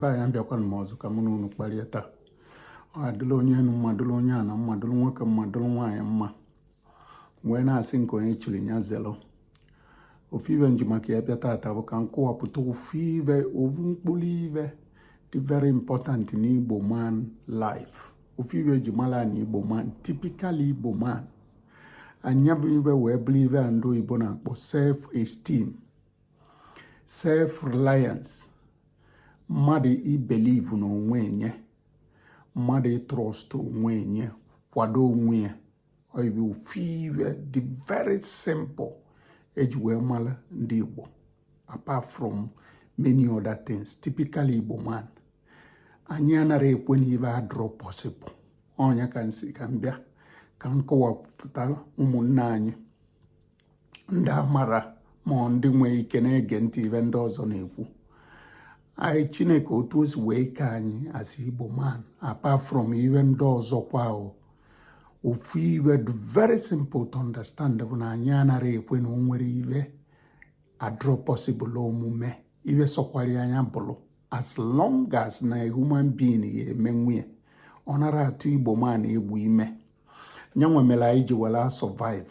taa abịakwana m ọzọ ka mụ na unu kparịa taa ọ dịla onye enu mma dịla onye ana mma dịla nwoke mma dịla nwaanyị mma wee na-asị nke onye chiri ya zelo ofu ibe m ji maka ya bịa taata bụ ka m kọwapụta ofu ibe ofu mkpụrụ ibe dị very important in Igbo man life ofu ibe eji mara na Igbo man typical Igbo man nya bụ ibe wee bụrụ ibe a ndị oyibo na-akpọ self esteem self reliance mmadụ ibelieve na onwe nye mmadụ ịtrust onwe nye kwado onwe ya ọ ya bụ ofu ibe dị very simple eji wee mara ndị Igbo apart from many other things typically Igbo man anyị anara ekwe na ibe adrọ possible ọ nya ka m sị ka m bịa ka m kọwapụtara ụmụnne anyị ndị amara ma ndị nwee ike na-ege ntị ibe ndị ọzọ na-ekwu anyị chineke otu o si wee kee anyị as igbo man apart from ibe ndị ọzọ kwa ofu ibe very simple to understand bụ na anyị anara ekwe na o nwere ibe adrọ possible omume ibe sọkwara nya bụrụ as long as na human being ya-emenwu nye ọ nara atụ igbo man egwu ime nya nwa mere anyị ji were survive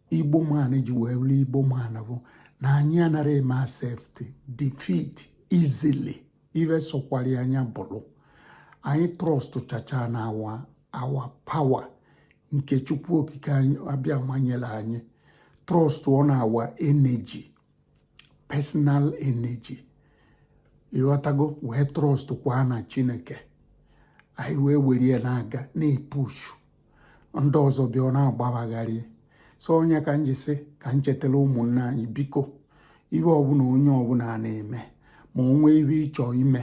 igbo man ji wee bụrụ igbo man bụ na anyị anaghị eme accept defeat easily ibe sọkwara nya bụrụ anyị trust chacha na our own power nke chukwu okike abịama nyere anyị trust on our energy personal energy ị ghọtago wee trust kwa na chineke anyị wee were ya na-aga na-epushu ndị ọzọ bịa ọ na-agba ba gharị so ọ nya ka m ji sị ka m chetara ụmụnne anyị biko ibe ọbụla onye ọbụla na-eme ma o nwee ibe ị chọ ime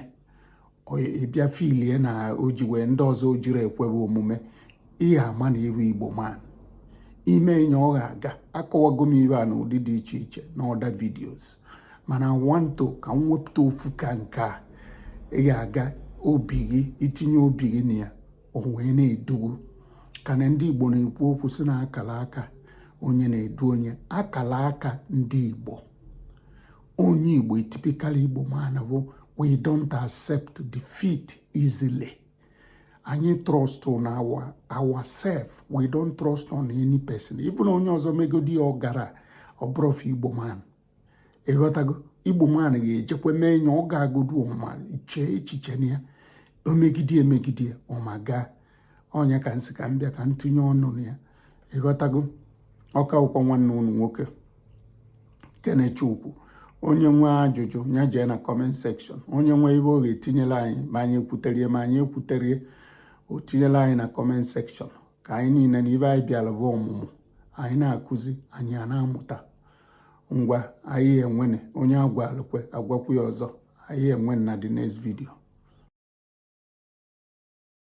ị bịa filie na o ji wee ndị ọzọ o jiri ekwe be omume ị ya-ama na ị bụ igbo man ị mee nye ọ ga-aga akọwago m ibe a na ụdị dị iche iche na other videos mana wanto ka m wepụta ofu ka nke a ị ga-aga obi gị itinye obi gị na ya o wee na-edu gị ka na ndị Igbo na-ekwu okwu sị na akala aka onye na-edu onye akala aka ndị Igbo onye Igbo typical Igbo man bụ we don't accept defeat easily anyị trust on ourself we don't trust on any person even onye ọzọ megodi ọ gara ọ bụrụ Igbo man ịghọtago igbo man ga-ejekwa mee nye ọ gagodu ọ ma chee echiche na ya o megide emegide ọ ma gaa ọ nya ka m sị ka m bịa ka m tụnye ọnụ na ya ịghọtago ọ ka bụkwa nwanne ụnụ nwoke kenechukwu onye nwee ajụjụ ya jee na comment section onye nwee ife ọ ga-etinyela anyị ma anyị ekwuterie ma anyị ekwuterie o tinyela anyị na comment section ka anyị niile na ife anyị bịara bụ ọmụmụ anyị na-akụzi anyị a na-amụta ngwa anyị enwene onye a gwalụ kwe a gwakwu ya ọzọ anyị enwe na the next video